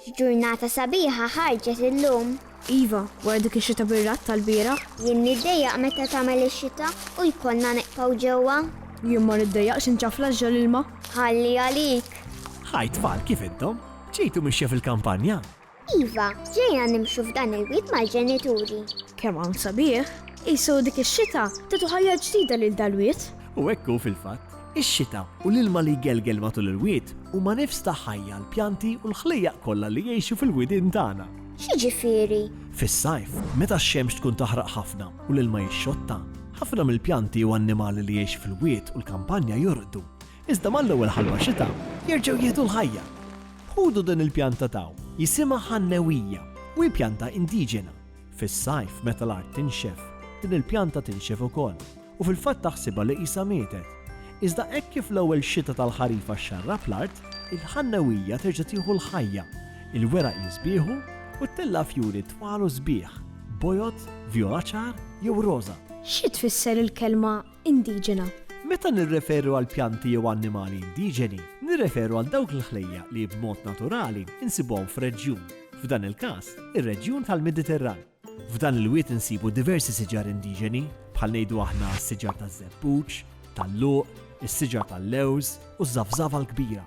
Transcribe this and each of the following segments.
X'ġurnata sabiħa ħarġet illum. Iva, wara dik ix-xita bir-ratt tal-bieraħ. Jien niddejjaq meta tagħmel ix-xita u jkollna neqpaw ġewwa. Jien ma niddejjaqx inċafla ġġa l-ilma. Ħalli għalik. Hi tfal kif intom? Ġejtu mixja fil-kampanja? Iva, ġejna nimxu f'dan il-wied mal-ġenituri. Kemm hawn sabiħ! Qisu dik ix-xita tatu ħajja ġdida lil dal-wied. U hekk hu fil-fatt. Ix-xita u l-ilma li jgelgel matul il-wied huma nifs ta' ħajja għall-pjanti u l-ħlejjaq kollha li jgħixu fil-widien tagħna. X'jiġifieri? Fis-sajf, meta x-xemx tkun taħraq ħafna u l-ilma jixxotta, ħafna mill-pjanti u annimali li jgħixu fil-wied u l-kampanja jorqdu. Iżda mal-ewwel ħalwa xita, jerġgħu jieħdu l-ħajja. Ħudu din il-pjanta taw, jisimha ħannewija, u hi pjanta indiġena. Fis-sajf, meta l-art tinxef, din il-pjanta tinxef ukoll, u fil-fatt taħsibha li qisha mietet. Iżda hekk kif l-ewwel xita tal-ħarifa xxarrab l-art, il-ħannewija terġa' tieħu l-ħajja, il-weraq jiżbieħu, u ttella' fjuri twal u sbieħ, bojod, vjola ċar jew roża. Xi tfisser il-kelma indiġena. Meta nirreferu għal pjanti jew annimali indiġeni, nirreferu għal dawk il-ħlejjaq li b'mod naturali insibuhom f'reġjun, f'dan il-każ, ir-reġjun tal-Mediterran. F'dan il-wied insibu diversi siġar indiġeni, bħal ngħidu aħna s-siġar taż-żebbuġ, tal-luq, is-siġar tal-lewż u ż-żafżafa l-kbira.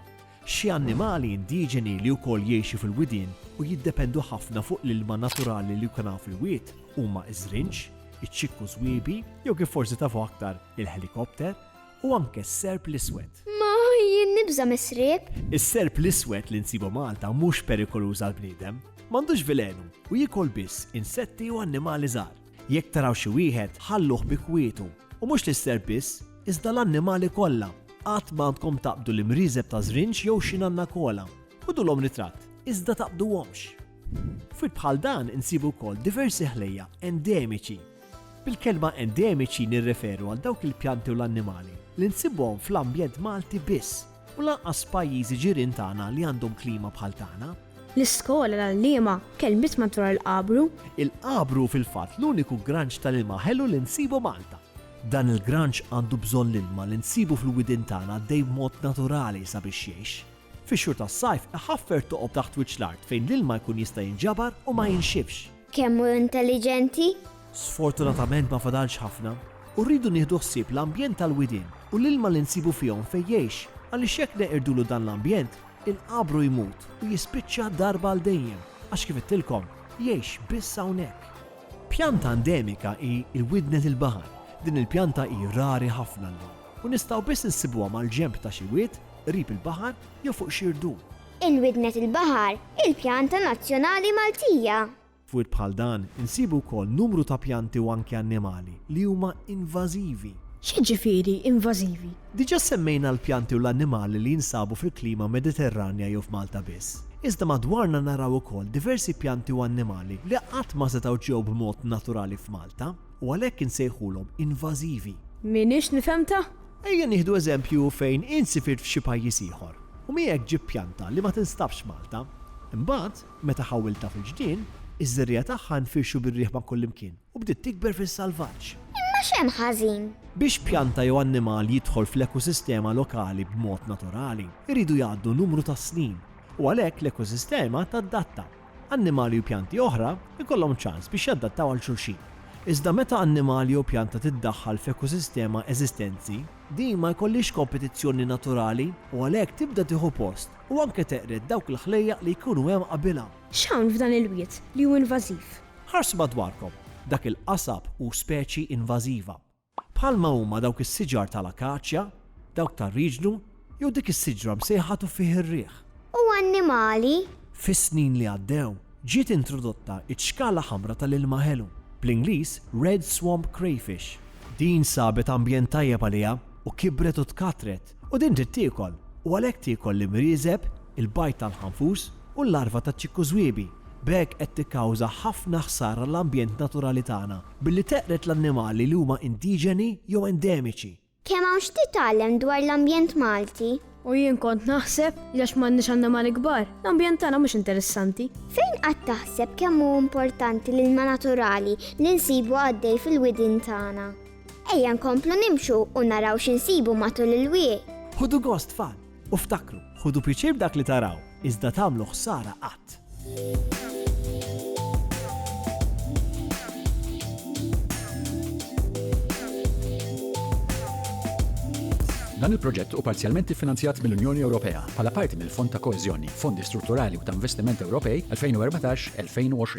Xi annimali indiġeni li wkoll jgħixu fil-widien u jiddependu ħafna fuq l-ilma naturali li jkun hawn fil-wied huma ż-żrinġ, iċ-ċikku żwiebi jew kif forsi tafu aktar il-ħelikopter u anke s-serp l-iswed. Ma jien nibża' mis-sriep. Is-serp l-iswed li nsibu Malta mhux perikoluż għall-bniedem. M'għandux velenu u jiekol biss insetti u annimali żgħar. Jekk taraw xi wieħed, ħalluh bi kwietu, u mhux lis-serp biss, iżda l-annimali kollha. Qatt m'għandkom taqbdu l-imrieżeb ta' żrinġ jew xi nanna kola. Ħudulhom ritratt, iżda taqbduhomx. F'wirt bħal dan insibu wkoll diversi ħlejjaq endemiċi. Bil-kelma endemiċi nirreferu għal dawk il-pjanti u l-annimali li nsibhom fl-ambjent Malti biss. U lanqas pajjiżi ġirien tagħna li għandhom klima bħal tagħna. L-iskola, l-għalliema, kelbit madwar il-qabru. Il-qabru hu fil-fatt l-uniku granċ tal-ilma ħelu li nsibu Malta. Dan il-granċ għandu bżonn l-ilma li nsibu fil-widien tagħna għaddej b'mod naturali sabiex jgħix. Fix-xhur tas-sajf iħaffer toqob taħt wiċċ l-art fejn l-ilma jkun jista' jinġabar u ma jinxifx. Kemm hu intelliġenti? Sfortunatament ma fadalx ħafna, u rridu nieħdu ħsieb l-ambjent tal-widien u l-ilma li nsibu fihom fejn jgħix, għaliex jekk neqirdulu dan l-ambjent, inqabru jmut u jispiċċa darba għal dejjem, għax kif għedtilkom, jgħix biss hawnhekk. Pjanta endemika hi l-widnen il-baħar. Din il-pjanta hi rari ħafna llum, u nistgħu biss insibuha mal-ġenb ta' xi wied, qrib il-baħar jew fuq xi rdum. Il-widnet il-baħar, il-pjanta nazzjonali Maltija. F'wirt bħal dan insibu wkoll numru ta' pjanti u anki annimali li huma invażivi. X'jiġifieri invażivi? Diġà semmejna l-pjanti u l-annimali li jinsabu fil-klima Mediterranja jew f'Malta biss. Iżda madwarna naraw ukoll diversi pjanti u annimali li qatt ma setgħu ġew b'mod naturali f'Malta u għalhekk insejħulhom invażivi. M'iniex nifhemtha? Ejja nieħdu eżempju fejn int sifirt f'xi pajjiż ieħor u miegħek ġibt pjanta li ma tinstabx f'Malta. Imbagħad, meta ħawwiltha fil-ġnien, iż-żerriegħa tagħha nfirxu bir-riħ ma' kullimkien u bdiet tikber fis-salvaġġ. Imma x'hemm ħażin? Biex pjanta jew annimal jidħol fl-ekosistema lokali b'mod naturali, iridu jgħaddu numru ta' snin u għalhekk l-ekosistema tadatta. Annimali u pjanti oħra jkollhom ċans biex jaddattaw għal xulxin. Iżda meta annimal jew pjanta tiddaħħal f'ekosistema eżistenzi, din ma jkollhiex kompetizzjoni naturali u għalhekk tibda tieħu post u anke teqred dawk il-ħlejjaq li jkunu hemm qabilha. X'hawn f'dan il-wied li hu invażiv? Ħarsu madwarkom, dak il-qasab hu speċi invażiva. bħalma huma dawk is-siġar ta' l-akaċja, dawk tar-riġnu, jew dik is-siġra msejħa tuffieħ ir-riħ. U annimali. Fis-snin li għaddew, ġiet introdotta ċ-ċkala ħamra ta' l-ilma ħelu, bl-Ingliż red swamp crayfish. Din sabet ambjent tajjeb għaliha u kibret u tkattret, u din trid tiekol, u għalhekk tiekol l-imrieżeb, il-bajd tal-ħanfus, u l-larva taċ-ċikkużwiebi, b'hekk qed tikkawża ħafna ħsara l-ambjent naturali tagħna. Billi teqred l-annimali li huma indiġeni jew endemiċi. Kemm hawn x'titgħallem dwar l-ambjent Malti! U jien kont naħseb li għax m'għandniex annimali kbar, l-ambjent tagħna mhux interessanti. Fejn qatt taħseb kemm hu importanti l-ilma naturali li nsibu għaddej fil-widien tagħna? Ejja nkomplu nimxu u naraw xi nsibu matul il-wieq. Ħudu gost tfal! U ftakru, ħudu piċir b'dak li taraw, iżda tagħmlu ħsara qatt. Dan il-proġett u parzjalment iffinanzjat mill-Unjoni Ewropea bħala parti mill-Fond ta' Koeżjoni, Fondi Strutturali u ta' Investiment Ewropej 2014-2020.